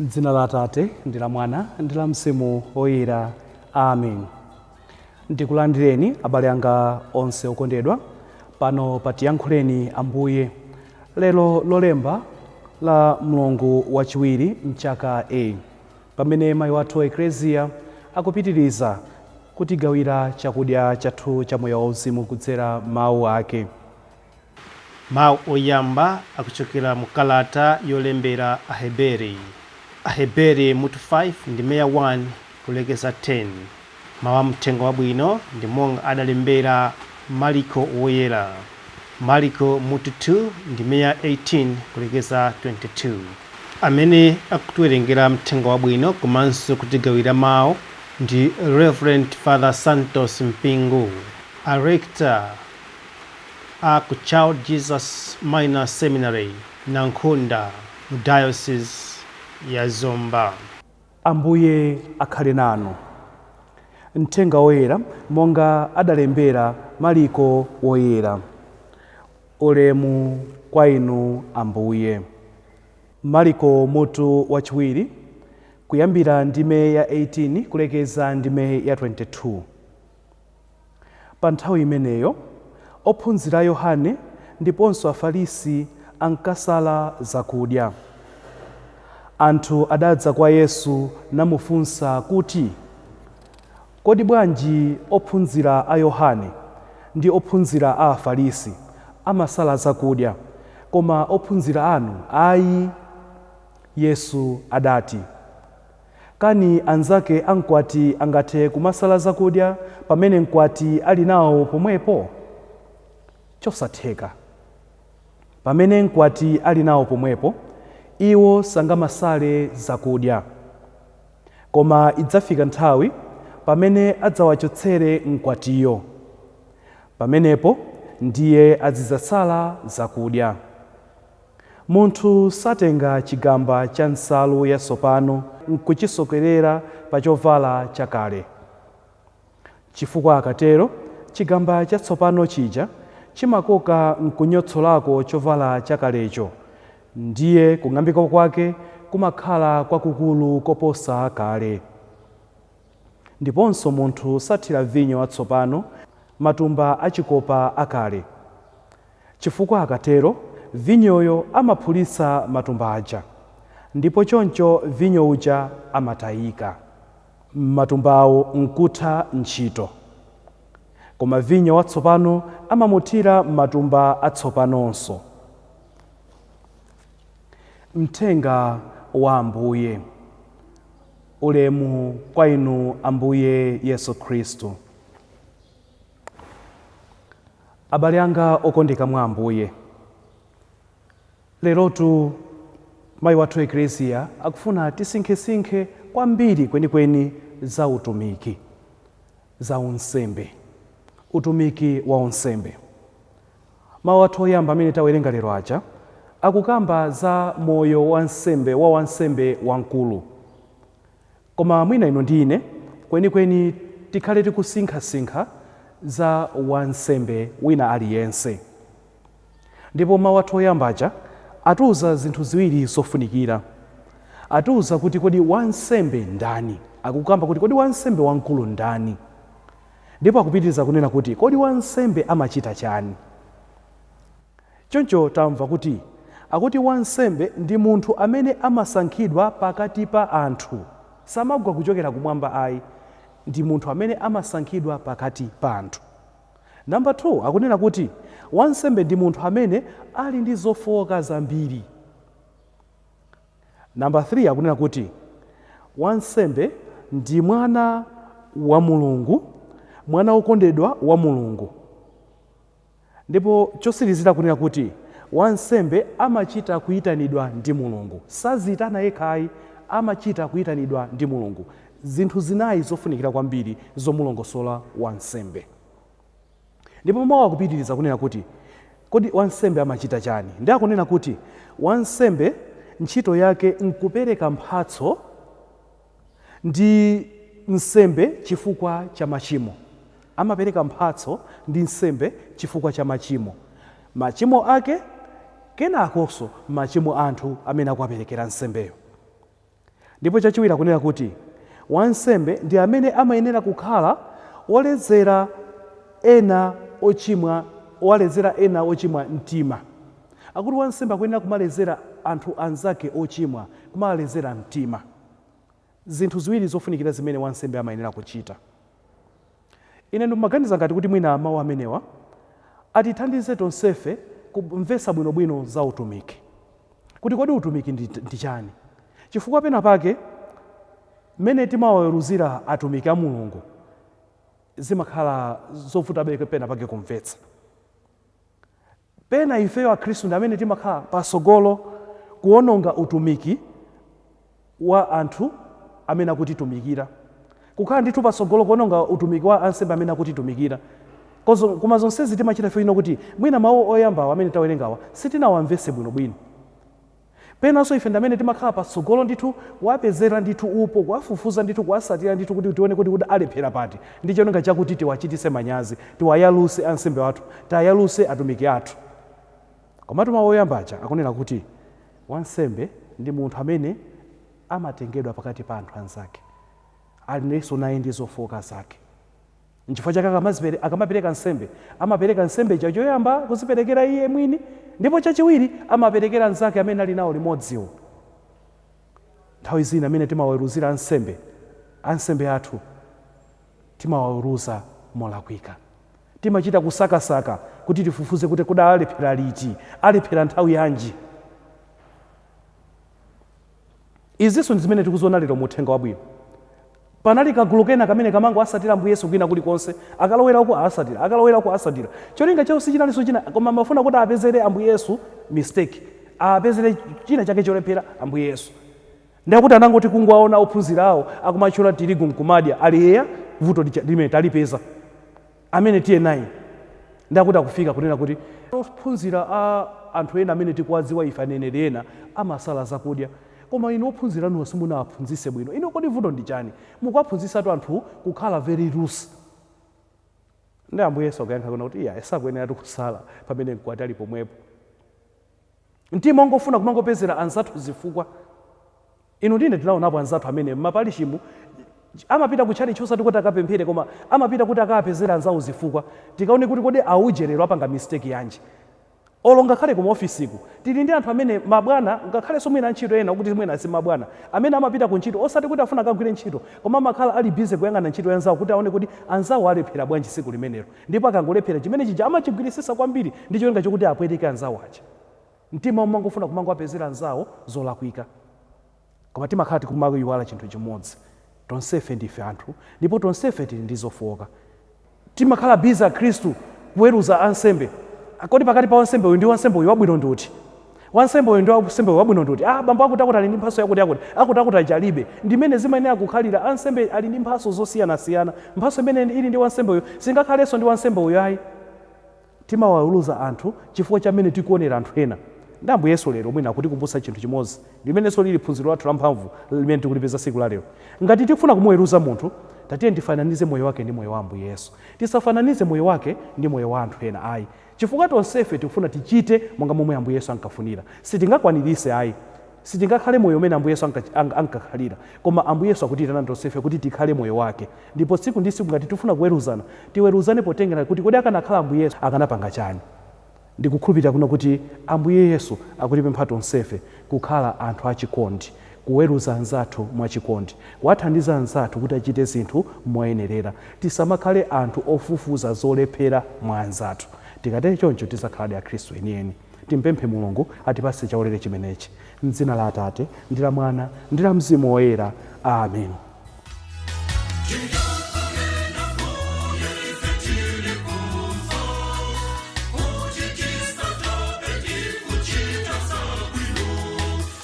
M'dzina la Atate ndi la Mwana ndi la Mzimu Woyera. Amen. Ndikulandireni abale anga onse okondedwa pano pa Tiyankhuleni Ambuye. Lero lolemba la mlungu wachiwiri mchaka A, pamene mayi wathu Ekleziya akupitiriza kutigawira chakudya chathu cha moyo wauzimu kudzera mawu ake. Mawu oyamba akuchokera mu kalata yolembera Aheberi. Aheberi mutu 5 ndime ya 1 kulekeza 10. Mawu a mthenga wabwino ndi monga adalembera Maliko woyera. Maliko mutu 2 ndime ya 18 kulekeza 22. Amene akutiwerengera mthenga wabwino komanso kutigawira mawu ndi Reverend Father Santos Mpingu. A Rector a ku Child Jesus Minor Seminary, Nankhunda mu Diocese ya Zomba. Ambuye akhale nanu. Mthenga Woyera monga adalembera Maliko Woyera. Ulemu kwa Inu Ambuye. Maliko mutu wachiwiri kuyambira ndime ya 18 kulekeza ndime ya 22. Pa nthawi imeneyo, ophunzira a Yohane ndiponso Afarisi ankasala zakudya. Anthu adadza kwa Yesu namufunsa kuti, Kodi bwanji ophunzira a Yohane ndi ophunzira a Afarisi amasala zakudya, koma ophunzira anu ayi? Yesu adati. Kani anzake a mkwati angathe kumasala zakudya pamene mkwati ali nawo pomwepo? Chosatheka! Pamene mkwati ali nawo pomwepo, iwo sangamasale zakudya. Koma idzafika nthawi pamene adzawachotsere mkwatiyo. Pamenepo ndiye azidzasala zakudya. Munthu satenga chigamba cha nsalu yatsopano n'kuchisokerera pa chovala chakale, chifukwa akatero, chigamba chatsopano chija chimakoka n'kunyotsolako chovala chakalecho, ndiye kung'ambika kwake kumakhala kwakukulu koposa kale. Ndiponso munthu sathira vinyo watsopano matumba achikopa akale. Chifukwa akatero, vinyoyo amaphulitsa matumba aja, ndipo choncho vinyo uja amatayika. Matumbawo n'kutha ntchito. Koma vinyo watsopano amamuthira m'matumba atsopanonso. Mthenga wa Ambuye. Ulemu kwa Inu Ambuye Yesu Khristu. Abale anga okondeka mwa Ambuye, lerotu Mayi wathu Eklesia akufuna tisinkhesinkhe kwambiri kwenikweni za utumiki, za unsembe, utumiki wa unsembe. Mawu athu oyamba amene tawerenga lero aja akukamba za moyo wansembe wa wansembe wamkulu. Koma mwina inu ndi ine kwenikweni tikhale tikusinkhasinkha za wansembe wina aliyense. Ndipo mawu athu oyamba aja atiuza zinthu ziwiri zofunikira. Atiuza kuti kodi wansembe ndani? Akukamba kuti kodi wansembe wamkulu ndani? Ndipo akupitiriza kunena kuti kodi wansembe amachita chani? Choncho tamva kuti, akuti wansembe ndi munthu amene amasankhidwa pakati pa anthu. Samagwa kuchokera kumwamba ayi, ndi munthu amene amasankhidwa pakati pa anthu. Number 2, akunena kuti wansembe ndi munthu amene ali ndi zofooka zambiri. Number 3, akunena kuti wansembe ndi mwana wa Mulungu, mwana wokondedwa wa Mulungu. Ndipo chotsirizira kunena kuti, wansembe amachita kuitanidwa ndi Mulungu. Saziitana yekha ayi, amachita kuitanidwa ndi Mulungu. Zinthu zinayi zofunikira kwambiri zomulongosola wansembe. Ndipo mawu akupitiriza kunena kuti, kodi wansembe amachita chani? Ndiye akunena kuti, wansembe ntchito yake nkupereka mphatso. ndi nsembe chifukwa cha machimo. Amapereka mphatso ndi nsembe chifukwa cha machimo, machimo ake kenakonso machimo a anthu amene akuwaperekera nsembeyo. Ndipo chachiwiri akunena kuti wansembe ndi amene amayenera kukhala wolezera ena ochimwa, walezera ena ochimwa mtima. Akuti wansembe akuyenera kumalezera anthu anzake ochimwa, kumalezera mtima. Zinthu ziwiri zofunikira zimene wansembe amayenera kuchita. Ine ndimaganiza ngati kuti mwina mawu amenewa atithandize tonsefe kumvetsa bwino bwino za utumiki. Kuti kodi utumiki ndi chani? Chifukwa pena pake mmene timawaweruzira atumiki a Mulungu zimakhala zovutabe pena pake kumvetsa. Pena ifeyo akhristu ndi amene timakhala patsogolo kuononga utumiki wa anthu amene akutitumikira. Kukhala ndithu patsogolo kuononga utumiki wa ansembe amene akutitumikira. Koma zonsezi timachita chifukwa china kuti mwina mau oyambawa amene tawerengawa sitinawamvetse bwinobwino. Penanso ife ndi amene timakhala patsogolo ndithu kuwapezera ndithu upo, kuwafufuza ndithu, kuwasatira ndithu kuti tione kuti kodi alephera pati ndi cholinga chakuti tiwachitise manyazi, tiwayaluse ansembe athu, tiwayaluse atumiki athu. Komatu mau oyamba aja akunena kuti wansembe ndi munthu amene amatengedwa pakati pa anthu anzake, alinso naye ndi zofooka zake. Nchifukwa chake akamapereka nsembe, amapereka nsembe ija choyamba kuziperekera iye mwini, ndipo chachiwiri amaperekera anzake amene ali nawo limodziwo. Nthawi zina amene timawaweruzira ansembe, ansembe athu, timawaweruza molakwika. Timachita kusakasaka kuti tifufuze kuti kodi alephera liti, alephera nthawi yanji. Izinso ndi zimene tikuziona lero mu Uthenga Wabwino. Panali kagulu kena kamene kamangowasatira Ambuye Yesu kwina kuli konse, akalowera uku awasatira, akalowera uku awasatira. Cholinga chawo sichinalinso china koma amafuna kuti apezere Ambuye Yesu mistake, apezere china chake cholephera Ambuye Yesu. Ndiyakuti anangoti kungowaona ophunzira awo akumatchola tirigu nkumadya, ali eya, vuto lija limene talipeza. amene tiye naye ndiyakuti akufika kunena kuti ophunzira a anthu ena amene tikuwadziwa ife aneneri ena amasala zakudya koma inu ophunzira anuwo simunawaphunzitse bwino inu kodi vuto ndi chani mukuwaphunzitsatu anthu kukhala very loose nde ambuye yesu akuyankha kunena kuti iyayi sakuyeneratu kusala pamene mkwati ali pomwepo mtima ongofuna kumangopezera anzathu zifukwa Inu ndi ine tinaonapo anzathu amene m'maparishimu amapita ku tchalitchi osati kuti akapemphere koma amapita kuti akaapezere anzawo zifukwa. Tikaone kuti kodi auje lero apanga mistake yanji. Olo ngakhale ku maofisiku tili ndi anthu amene mabwana ngakhalenso mwina antchito ena okuti mwina si mabwana amene amapita ku ntchito osati kuti afuna akagwire ntchito koma amakhala ali busy kuyang'ana ntchito ya anzawo kuti aone kuti anzawo alephera bwanji tsiku limenelo ndipo akangolephera chimene chija amachigwiritsitsa kwambiri ndi cholinga chokuti apweteke anzawo aja. Mtima omangofuna kumangowapezera anzawo zolakwika. Koma timakhala tikumaiwala chinthu chimodzi, tonsefe ndife anthu ndipo tonsefe tili ndi zofooka. Timakhala busy akhristu kuweruza ansembe, kodi pakati pa wansembe uyu ndi wansembe uyu wabwino ndi uti? Wansembe uyu ndi wansembe uyu wabwino ndi uti? Ah, bambo akutiakuti ali ndi mphatso yakutiyakuti, akutiakuti aja alibe. Ndi mmene zimayenera kukhalira, ansembe ali ndi mphatso zosiyanasiyana. Mphatso imene ili ndi wansembe uyu singakhalenso ndi wansembe uyu ayi. Timawaweruza anthu chifukwa cha mmene tikuonera anthu ena. Ndi Ambuye Yesu lero mwina akutikumbutsa chinthu chimodzi, limenenso lili phunziro lathu la mphamvu limene tikulipeza tsiku la lero. Ngati tikufuna kumuweruza munthu, tatiyeni tifananize moyo wake ndi moyo wa Ambuye Yesu. Tisafananize moyo wake ndi moyo wa anthu ena ayi. Chifukwa tonsefe tikufuna tichite monga momwe Ambuye Yesu ankafunira. Sitingakwanirise ayi. Sitingakhale moyo umene Ambuye Yesu ankakhalira, koma Ambuye Yesu akutiitana tonsefe kuti tikhale moyo wake. Ndipo tsiku ndi tsiku ngati tifuna kuweruzana, tiweruzane potengera kuti kodi akanakhala Ambuye Yesu akanapanga chani? Ndikukhulupirira kuno kuti Ambuye Yesu akutipempha tonsefe kukhala anthu achikondi, kuweruza anzathu mwachikondi, kuwathandiza anzathu kuti achite zinthu moyenerera. Tisamakhale anthu ofufuza zolephera mwa anzathu. Tikatero choncho, tidzakhaladi Akhristu enieni. Timpemphe Mulungu atipatse chaulere chimenechi. M'dzina la Atate, ndi la Mwana, ndi la Mzimu Woyera. Amen.